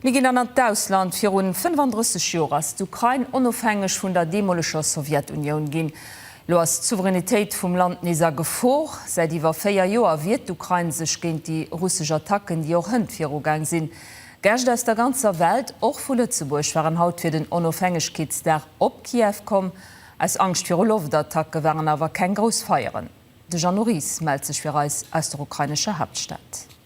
Mir ginn dann an d'Ausland. Virun 35 Joer ass d'Ukrain onofhängeg vun der deemoleger Sowjetunioun ginn. Elo ass d'Souveränitéit vum Land nees a Gefor. Säit iwwer véier Joer wiert d'Ukrain sech géint déi russesch Attacken, déi och hënt virugaang sinn. Gäscht aus der ganzer Welt, och vu Lëtzebuerg, waren haut fir den Onofhängegkeetsdag op Kiew komm. Aus Angscht viru Loftattacke waren awer keng grouss Feieren. De Jeannot Ries mellt sech fir eis aus der ukrainescher Haaptstad.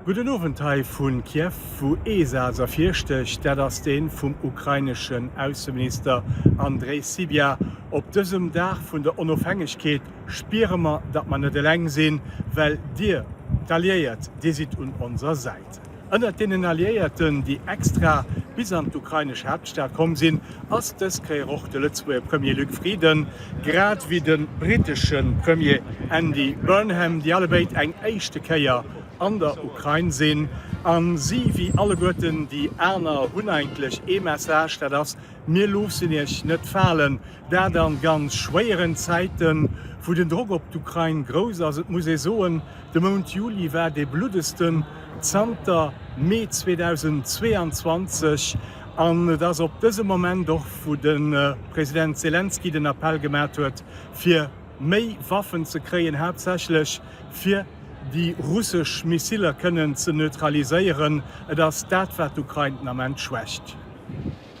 Gudden Owend hei vu Kiew, wou ee Saz ervirstécht, dat ass dee vum ukraineschen Ausseminister Andrej Sybiha, Op dësem Dag vun der Onofhängegkeet spiere mer, datt mer net eleng sinn, well Dir, d'Alliéiert, Dir sidd un onser Säit. Ënnert deenen Alliéierten, déi extra bis an d'ukrainesch Haaptstad komm sinn, ass dës Kéier och de Lëtzebuerger Premier Luc Frieden, grad ewéi de brittesche Premier Andy Burnham, déi allebéid eng éischte Kéier an der Ukrain sinn. A si wéi alleguerten déi aner hunn eigentlech ee Message, dat ass, Mir loossen Iech net falen, Dat an ganz schwéieren Zäiten, wou den Drock op d'Ukrain grouss ass. Et muss ee soen, de Mount Juli war dee bluddegsten zanter Mee 2022. An et ass op dëse Moment och, wou de President Selenskyj den Appell gemat huet, fir méi Waffen ze kréien, haaptsächlech fir déi russesch Missiler kënnen ze neutraliséieren. Et ass dat, wat d'Ukrain den Ament schwächt.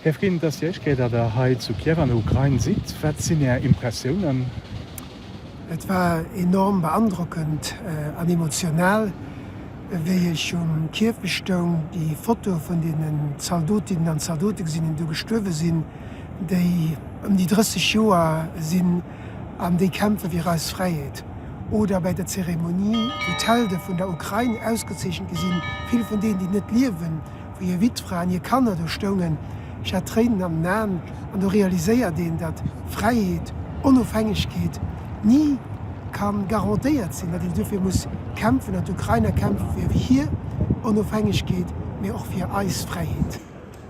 Här Frieden, et ass déi éischt Kéier, datt Der hei zu Kiew an der Ukrain sidd. Wat sinn Är Impressiounen? Et war enorm beandrockend an emotional, wéi ech um Kiew bestoung, déi Fotoe vun deenen Zaldotinnen an Zaldote gesinn hunn, déi do gestuerwe sinn, déi ëm déi 30 Joer sinn an déi kämpfe fir eis Fräiheet, oder bäi der Zeremonie, wou d'Helde vun der Ukrain ausgezeechent gi sinn, vill vun deenen, déi net liewen. wou hir Witfra an hir Kanner do stoungen, ech hat Tréinen an den Aen, an do realiséiert een, datt Fräiheet, Onofhängegkeet ni ka garantéiert sinn, datt een duerfir muss kämpfen, datt d'Ukrainer kämpfe fir hir Onofhängegkeet, mee och fir eis Fräiheet.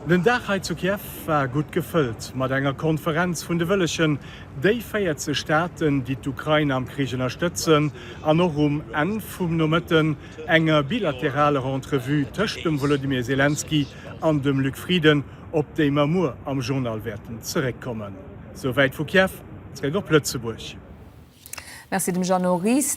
Den Dag hei zu Kiew war gutt gefëllt mat enger Konferenz vun de Wëllegen, déi 40 Staaten, déi d'Ukrain am Krich ënnerstëtzen, an och um Enn vum Nomëtten, enger bilateraler Entrevue tëscht dem Wolodymyr Selenskyj an dem Luc Frieden, op déi mer muer am Journal wäerten zeréckkommen. Souwäit vu Kiew, zeréck op Lëtzebuerg. Merci dem Jeannot Ries.